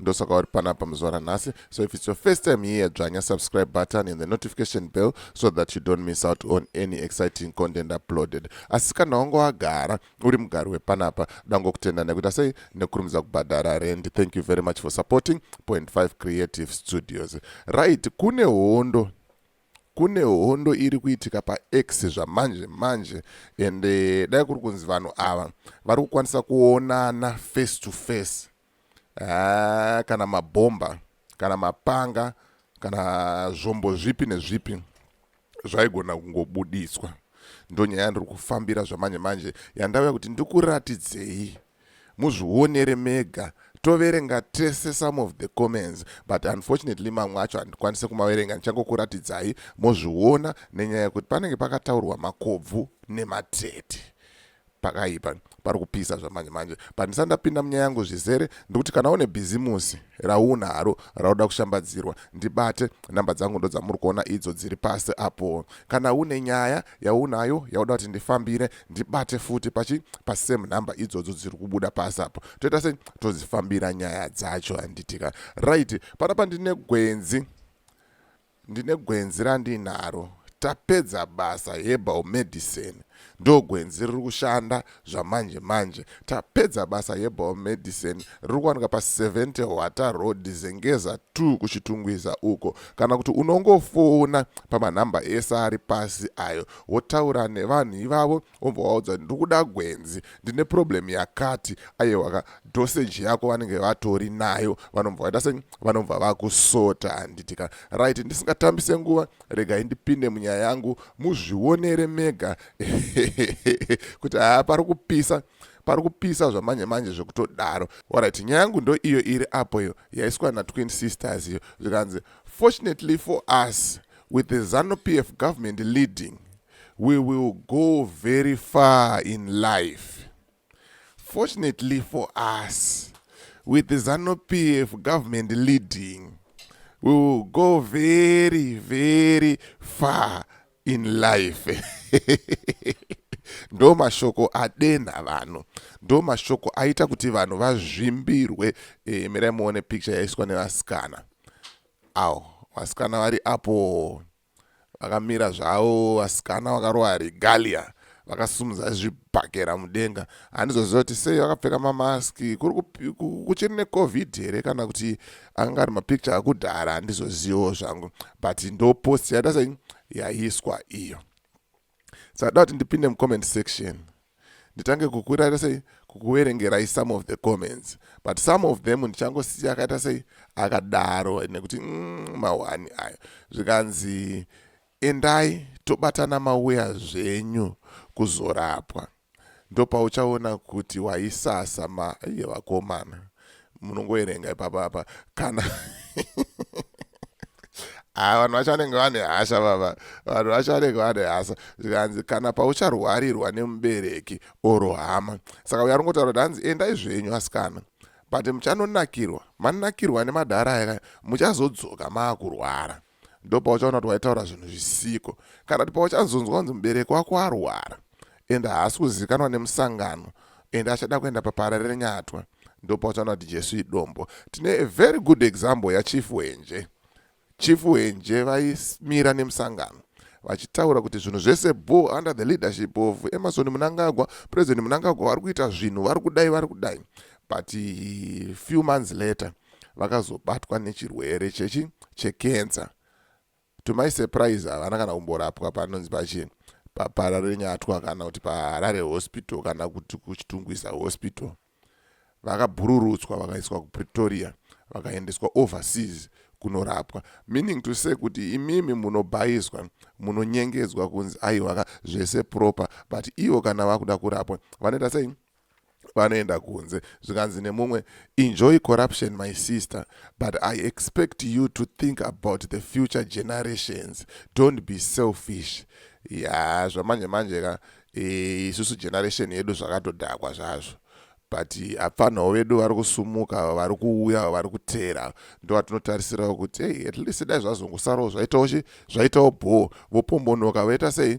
ndosaka uri panapa muzuva ranhasi so if its your first time here dzvanya subscribe button and the notification bell so that you don't miss out on any exciting content uploaded asi kana wange wagara uri mugari wepanapa dangokutenda nekuita sei nekurumidza kubhadhara rend thank you very much for supporting point 5 creative studios right kune hondo kune hondo iri kuitika pax zvamanje manje and eh, dai kuri kunzi vanhu ava vari kukwanisa kuonana face to face haa kana mabhomba kana mapanga kana zvombo zvipi nezvipi zvaigona kungobuditswa ndonyaya yandiri kufambira zvamanje manje yandauya kuti ndikuratidzei muzvionere mega toverenga tese some of the comments but unfortunately mamwe acho handikwanise kumaverenga ndichangokuratidzai mozviona nenyaya yekuti panenge pakataurwa makobvu nematete pakaipa pari kupisa zvamanje manje but ndisati ndapinda munyaya yangu zvizere ndikuti kana une bhizimusi rauna haro rauda kushambadzirwa ndibate nhamba dzangu ndo dzamuri kuona idzo dziri pasi apo kana une nyaya yaunayo yauda kuti ndifambire ndibate futi pachi pasame nhamba idzodzo dziri kubuda pasi apo toita se todzifambira nyaya dzacho handitika right panapa ndine gwenzi Ndine gwenzi randinaro tapedza basa herbal medicine ndogwenzi riri kushanda zvamanje manje tapedza basa herbal medicine riri kuwanika pa70 hwata road zengeza 2 kuchitungwiza uko kana kuti unongofona pamanhamba ese ari pasi ayo wotaura nevanhu ivavo wobva waudza kuti ndikuda gwenzi ndine problem yakati ayewaka dosage yako vanenge vatori nayo vanobva vaita se vanobva vakusota handiti ka right ndisingatambise nguva regai ndipinde munyaya yangu muzvionere mega kuti haa pari kupisa pari kupisa zvamanje manje zvekutodaro orit nyaya yangu ndo iyo iri apo iyo yaiswa natwin sisters iyo zvikanzi fortunately for us with the zanu p f government leading We will go very far in life. Fortunately for us, with the ZANU PF government leading, we will go very, very far in life. ndo mashoko adenha vanhu ndo mashoko aita kuti vanhu vazvimbirwe e, mirai muone picture yaiswa nevasikana awo vasikana vari apo Vakamira zvavo vasikana vakarova regalia vakasumudza zvibhakera mudenga handizoziva kuti sei vakapfeka mamask kuri kuchiri necovid here kana kuti anga ari mapicture akudhara handizozivawo zvangu but ndopost yadasa yaiswa iyo saka kuti ndipinde mucomment section nditange kukuita sei kukuverengerai some of the comments but some of them ndichangosiya akaita sei akadaro nekuti mm, mahwani ayo zvikanzi endai tobatana mauya zvenyu kuzorapwa ndopauchaona kuti waisasa ma iye vakomana munongoerenga ipapa apa kana ah, vanhu vacho vanenge vane hasha baba vanhu vacho vanenge vane hasha zvikanzi kana paucharwarirwa nemubereki oro hama saka uya ringotaura kuti hanzi endai zvenyu asikana but muchanonakirwa manakirwa nemadhara aya muchazodzoka maakurwara ndopauchaona kuti waitaura zvinhu zvisiko kana kuti pauchazonzwa kunzi mubereki wako arwara ende haasi kuzivikanwa nemusangano ende achada kuenda papara renyatwa ndopauchaona kuti jesu idombo tine a very good example yachief wenje chief wenje vaimira nemusangano vachitaura kuti zvinhu zvese bo under the leadership of emerson munangagwa president munangagwa vari kuita zvinhu vari kudai vari kudai but few months later vakazobatwa nechirwere chechi chekenza to my surprise havana kana kumborapwa panonzi pachi papararenyatwa kana kuti paharare hospital kana kuti kuchitungwisa hospital vakabhururutswa vakaiswa kupretoria vakaendeswa overseas kunorapwa meaning to say kuti imimi munobhayiswa munonyengedzwa kunzi aiwaka zvese proper but ivo kana vakuda kurapwa vanoita sei vanoenda kunze zvikanzi nemumwe enjoy corruption my sister but i expect you to think about the future generations don't be selfish ya zvamanje manje ka e, isusu generation yedu zvakatodhakwa zvazvo but apfanhawo vedu vari kusumuka vari kuuya vari kuteera ndo vatinotarisirawo kuti hey, at least dai zvazongosarawo zvaitawo chi zvaitawo bhoo vopombonoka vaita sei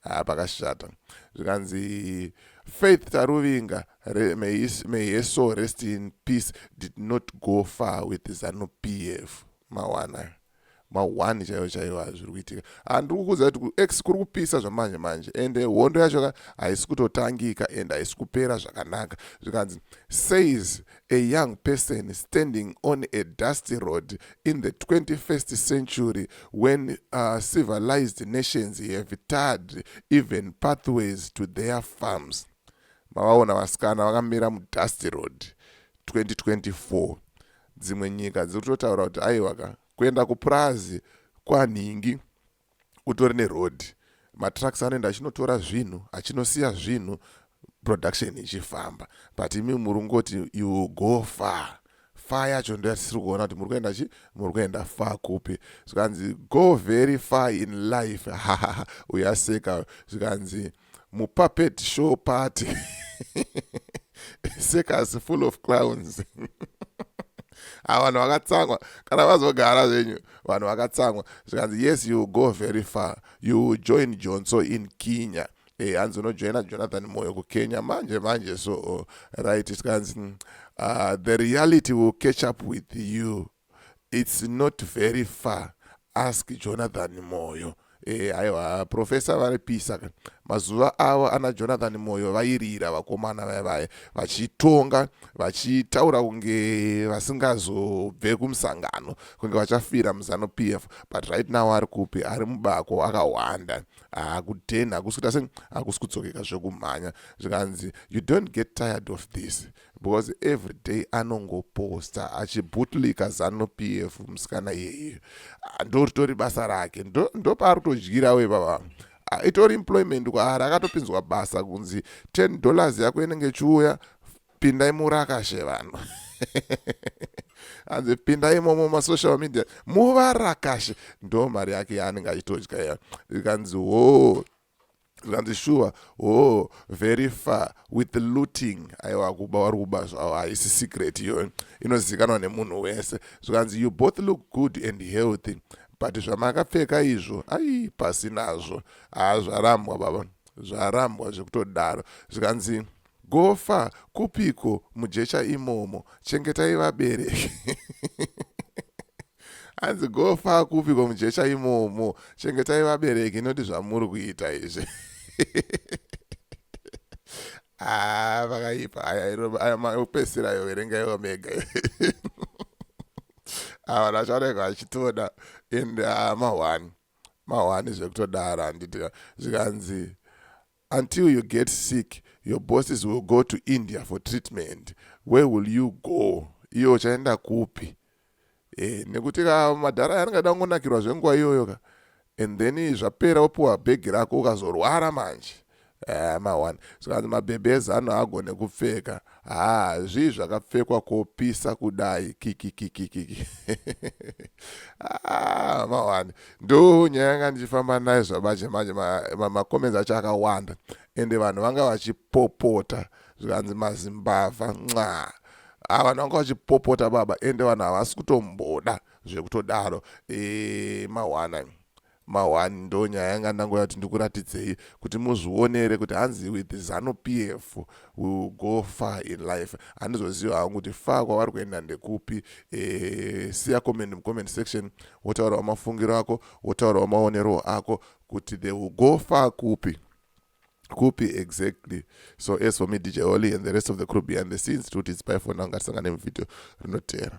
haa pakashata zvikanzi faith taruvinga may, may her soul rest in peace did not go far with zanu p f mawana mahwani chaiwo chaiwo azviri kuitika handiri kukuudza kuti kuex kuri kupisa zvamanje manje ende eh, hondo yacho ka haisi kutotangika and haisi kupera zvakanaka zvikanzi says A young person standing on a dusty road in the 21st century when uh, civilized nations have tarred even pathways to their farms. Mavaona vasikana vakamira mudusty road 2024. Dzimwe nyika dziri kutotaura kuti aiwaka kuenda kupurazi kwanhingi. utori neroad matrucks anoenda achinotora zvinhu achinosiya zvinhu production ichifamba but imi muri kungoti you go far far yacho ndo yatisiri kuona kuti muri kuenda chi muri kuenda far kupi zvikanzi go very far in life uyaseka zvikanzi mupuppet show party circus full of clowns a vanhu vakatsangwa kana vazogara zvenyu vanhu vakatsangwa zvikanzi yes you go very far you join jonso in kenya e eh, hanzi unojoina jonathan moyo kukenya manje manje so right tikanzi uh, the reality will catch up with you It's not very far ask jonathan moyo e, aiwa profesa varipisa ka mazuva avo ana jonathan moyo vairira vakomana vaya vaya vachitonga vachitaura kunge vasingazobve kumusangano kunge vachafira muzano p f but right now ari kupi ari mubako akahwanda akudenha hakusi kuita se hakusi kudzokeka zvekumhanya zvikanzi you don't get tired of this because everyday anongoposta achibutliker zanu pf musikana iyeye ah, ndoritori basa rake ndopaari kutodyirawo ipapa ah, itori employment kwaari akatopinzwa basa kunzi 10 dollars yako inenge ichiuya pindai murakashe vanhu hanzi pindai momo masocial media muvarakashe ndo mari yake yaanenge achitodya iya ikanzi woo zvikanzi shuwa hoo very far with looting aiwa kuba wari kuba zvavo haisi secret iyoyo inozivikanwa nemunhu wese zvikanzi you both look good and healthy but zvamakapfeka izvo ai pasi nazvo haa zvarambwa baba zvarambwa zvekutodaro zvikanzi Gofa kupiko mujecha imomo chengetai vabereki hanzi gofa kupiko mujecha imomo chengetai vabereki not zvamuri kuita izvi ah, vakaipa aya maupesira yo verenga iwo mega awa vachaoneka vachitoda and ah, mahwani mahwani zvekutodara handiti zvikanzi Until you get sick your bosses will go to India for treatment where will you go iyo uchaenda kupi e, nekuti ka madhara aya anenge ada kungonakirwa zvenguva iyoyo ka and then zvapera wopiwa bhegi rako ukazorwara manje eh, mahwani zvikanzi mabhebhi ezano agone kupfeka Haa zvii zvakapfekwa kopisa kudai kikikikikiki ah, mawani ndo nyaya yanga ndichifamba nayo zvabache manje macomments ma, ma acho akawanda ende vanhu vanga vachipopota zvikanzi mazimbavha nxaa a ah, vanhu vanga vachipopota baba ende vanhu havasi kutomboda zvekutodaro e, eh, mawana Ma one ndo nyaya yanga ndangoda kuti ndikuratidzei kuti muzvionere kuti hanzi with zanu PF we will go far in life. Handizoziva hangu kuti far kwavari kuenda ndekupi eh, siya comment mu comment section wotaurawo mafungiro ako wotaurawo maonerwo ako kuti they will go far kupi kupi exactly so as for me dj oli and the rest of the crew behind the scenes tikuti it's by for now ngatisangane muvideo rinoteera